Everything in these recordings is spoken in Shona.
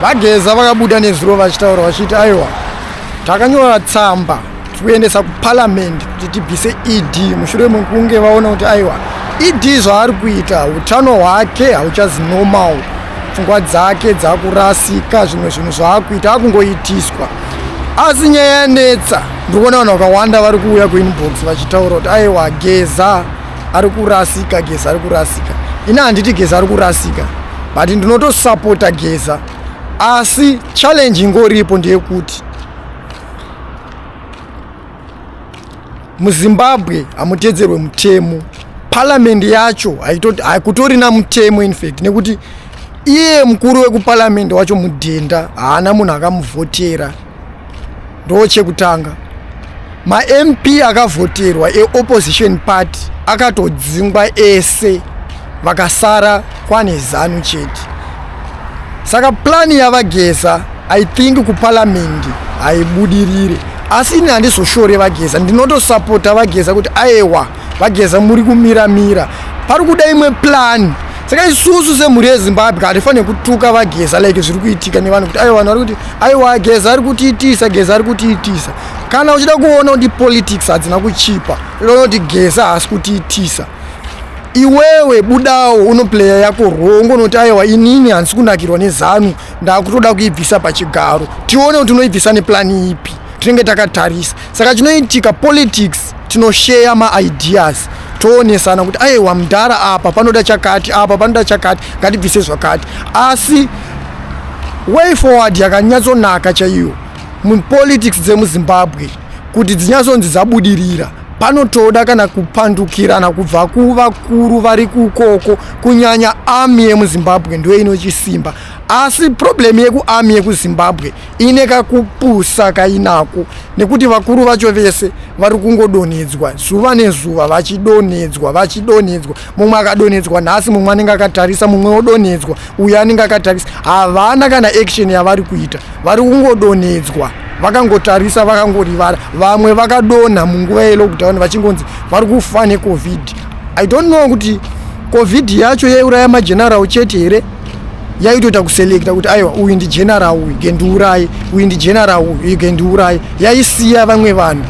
VaGeza vakabuda nezuro vachitaura vachiti aiwa takanyora tsamba tikuendesa kuparliament kuti tibvise ed mushure mekunge vaona kuti aiwa ed zvaari kuita utano hwake hauchazi normal pfungwa dzake dzakurasika zvimwe zvinhu zvaakuita akungoitiswa asi nyaya yanetsa ndikuona vanhu vakawanda vari kuuya kuinbox vachitaura kuti aiwa geza ari kurasika geza ari kurasika ini handiti geza ari kurasika but ndinotosapota geza asi challenge ingoripo ndeyekuti muzimbabwe hamutedzerwe mutemo parliamendi yacho haikutorina mutemo infact nekuti iye mukuru wekuparliamendi wacho mudhenda haana munhu akamuvhotera ndo chekutanga mamp akavhoterwa eopposition party akatodzingwa ese vakasara kwane zanu chete saka plani yavageza i think kupalamende haibudirire asi ini handizoshore vageza ndinotosapota vageza kuti aewa vageza muri kumira mira pari kuda imwe plan saka isusu semhuri yezimbabwe hatifanire kutuka vageza like zviri kuitika nevanhu kuti aiwa vanhu vari kuti aiwa geza ari kutiitisa geza ari kutiitisa kana uchida kuona kuti politics hadzina kuchipa unoona kuti geza haasi kutiitisa iwewe budawo unopleya yako rongo unoti aiwa inini handisi kunakirwa nezanu ndakutoda kuibvisa pachigaro tione kuti unoibvisa neplani ipi tinenge takatarisa saka chinoitika politics tinosheya maideas toonesana kuti aiwa mudhara apa panoda chakati apa panoda chakati ngatibvise zvakati asi way forward yakanyatsonaka chaiyo mupolitics dzemuzimbabwe kuti dzinyatsonzi dzabudirira panotoda kana kupandukirana kubva kuvakuru vari kukoko kunyanya army yemuzimbabwe ndoinochisimba asi problem yekuarmy yekuzimbabwe ine kakupusa kainako nekuti vakuru vacho vese vari kungodonhedzwa zuva nezuva vachidonhedzwa vachidonhedzwa mumwe akadonhedzwa nhasi mumwe anenge akatarisa mumwe odonhedzwa uyo anenge akatarisa havana kana action yavari kuita vari kungodonhedzwa vakangotarisa vakangorivara vamwe vakadonha munguva yelockdown vachingonzi vari kufa necovid i don't know kuti covid yacho yaiuraya mageneral chete here yaitoita kuselekta kuti aiwa uyu ndigeneral uyu gendiurai uyu ndigeneral uyu gendiurai yaisiya vamwe vanhu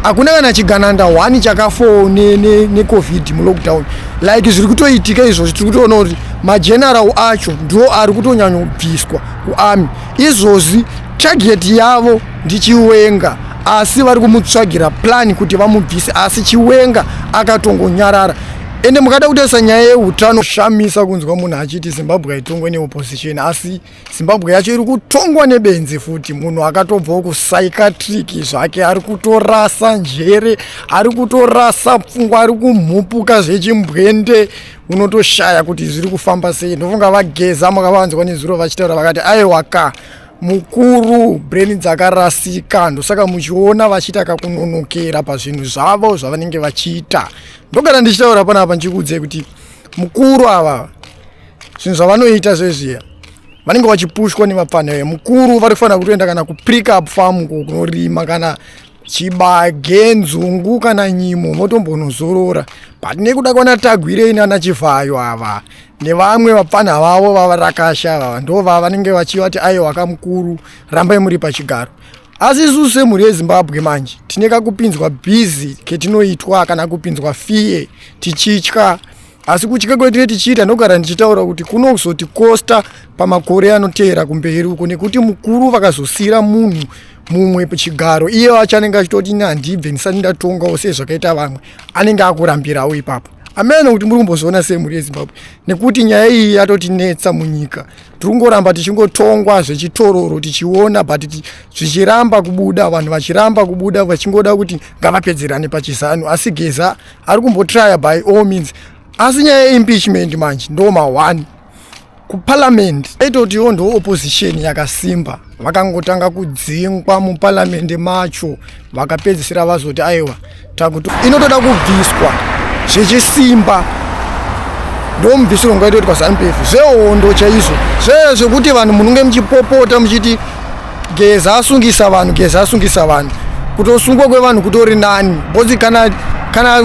hakuna kana chigananda one chakafoo necovid ne, ne mulockdown like zviri kutoitika izvozvi tiri kutoona kuti mageneral acho ndo ari kutonyanyobviswa kuarmy izvozvi target yavo ndichiwenga asi vari kumutsvagira plan kuti vamubvise asi chiwenga akatongonyarara ende mukada kutarisa nyaya yeutano shamisa kunzwa munhu achiti zimbabwe haitongwe neopposition asi zimbabwe yacho iri kutongwa nebenzi futi munhu akatobvawo kupsychiatric zvake ari kutorasa njere ari kutorasa pfungwa ari kumhupuka zvechimbwende unotoshaya kuti zviri kufamba sei ndofunga vageza makavanzwa nezuro vachitaura vakati aiwaka mukuru brain dzakarasika ndosaka muchiona vachiita kakunonokera pazvinhu zvavo zvavanenge vachiita ndogara ndichitaura pana apa ndichikuudzai kuti mukuru ava zvinhu zvavanoita zvezviya vanenge vachipushwa nemapfanha yo mukuru vari kufanira kutoenda kana kuprikup farm kunorima kana chibage nzungu kana nyimo motombonozorora but nekuda kwana tagwirei nana chivhayo ava nevamwe vapfanha vavo vavarakasha vava ndovava vanenge vachivati aiwa kamukuru rambai muri pachigaro asi isusu semhuri yezimbabwe manje tine kakupinzwa busy ketinoitwa kana kupinzwa fee tichitya asi kutya kwetine tichiita ndogara ndichitaura kuti kunozoti kosta pamakore anoteera kumberi uko nekuti mukuru vakazosiira munhu mumwe chigaro iye wacho anenge achitoti ini handibve ndisati ndatongawo sezvakaita vamwe anenge akurambirawo ipapo ameno kuti muri kumbozoona semhuri yezimbabwe nekuti nyaya iyi yatotinetsa munyika tirikungoramba tichingotongwa zvechitororo tichiona but zvichiramba kubuda vanhu vachiramba kubuda vachingoda kuti ngavapedzerane pachizanu asi geza ari kumbotraya by all means asi nyaya yeimpeachment manje ndo ma1 kuparliament aitotiwo ndo opposition yakasimba vakangotanga kudzingwa muparamende macho vakapedzisira vazoti aiwa takuti inotoda kubviswa zvechisimba ndomubvisiro ngaitoitwa zanupf zvehondo chaizvo zvee zvekuti vanhu munenge muchipopota muchiti geza asungisa vanhu geza asungisa vanhu kutosungwa kwevanhu kutori nani Bozi kana kana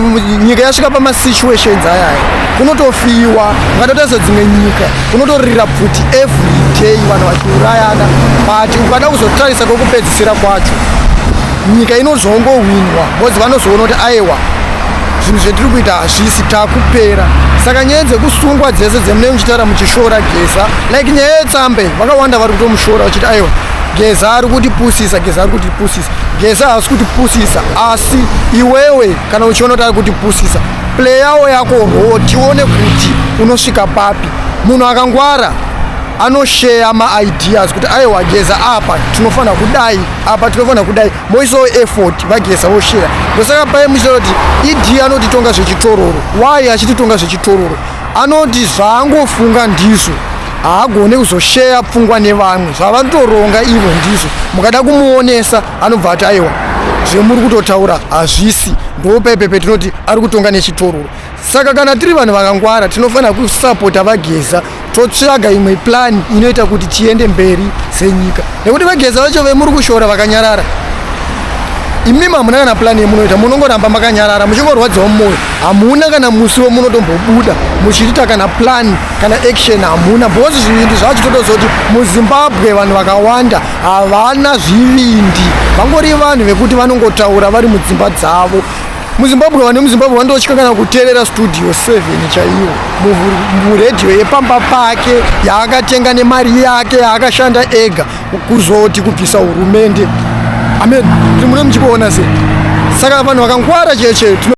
nyika yasvika pama situations ayaya kunotofiwa ukatotaisa dzimwe nyika kunotorira pfuti everyday vanhu vachiurayana but ukada kuzotarisa kwekupedzisira kwacho nyika inozongohwinwa bcoz vanozoona kuti aiwa zvinhu zvetiri kuita hazvisi takupera saka nyaya dzekusungwa dzese dzemunee muchitaura muchishora geza like nyaya yetsambe vakawanda vari kutomushora vachiti aiwa geza ari kutipusisa geza ari kutipusisa Geza haasi kutipusisa asi iwewe kana uchiona kuti ari kutipusisa pleyawo yako roo tione kuti unosvika papi munhu akangwara anosheya maideas kuti aiwa geza apa tinofanira kudai apa tinofanira kudai moisawo effort vageza vosheya ndosaka paye muchitaura kuti ed anotitonga zvechitororo why achititonga zvechitororo anoti zvaangofunga ndizvo haagone kuzosheya pfungwa nevamwe zvavanotoronga ivo ndizvo mukada kumuonesa anobva ati aiwa zvemuri kutotaura hazvisi ndopaipe petinoti ari kutonga nechitororo saka kana tiri vanhu vakangwara tinofanira kusapota vageza totsvaga imwe plani inoita kuti tiende mberi senyika nekuti vageza vacho vemuri kushora vakanyarara imi mamuna kana plani yemunoita munongoramba makanyarara muchingorwadziwa mumwoyo hamuna kana musi wemunotombobuda muchitita kana plani kana action hamuna because zvivindi zvachitotoza kuti muzimbabwe vanhu vakawanda havana zvivindi vangori vanhu vekuti vanongotaura vari mudzimba dzavo muzimbabwe vane muzimbabwe vandotya kana kuteerera studio 7 chaiyo muredhiyo yepamba pake yaakatenga nemari yake yaakashanda ega kuzoti kubvisa hurumende amen kuti mune muchikuona sei saka vanhu vakangwara cheche